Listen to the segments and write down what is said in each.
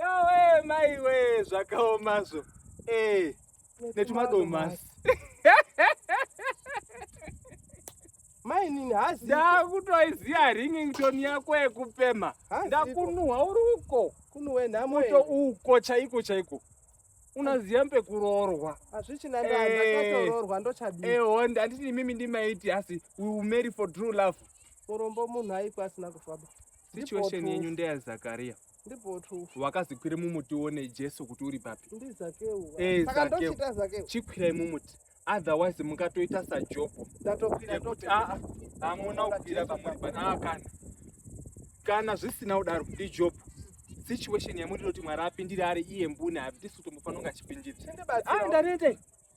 Yowe maiwe zvakaomazvo. Eh, netumadomasi. mainini hazi ndakutoiziva ringing tone yako yekupema ndakunuhwa uri uko kunuwe nhamo to uko chaiko chaiko unaziva pekuroorwa hazvichina ndakatoroorwa eh. ndochadii ehonda handiti imimi ndimaiti asi we will marry for true love murombo munhu aipa asina kufaba situation yenyu ndeyazakaria wakazikwira mumuti uone jesu kuti uri papi eh, chikwirai mumuti otherwise mukatoita sajobo yekuti aa ah, ah, hamuna kukwira pamuri panaa ah, kana kana zvisina kudaro ndijobo situation yamuri kuti mwari apindire ari iye mbune hapi tisu tombofanonga achipindira ndarete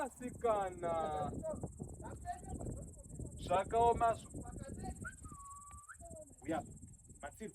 asikana zvakaoma zvo uya matsiro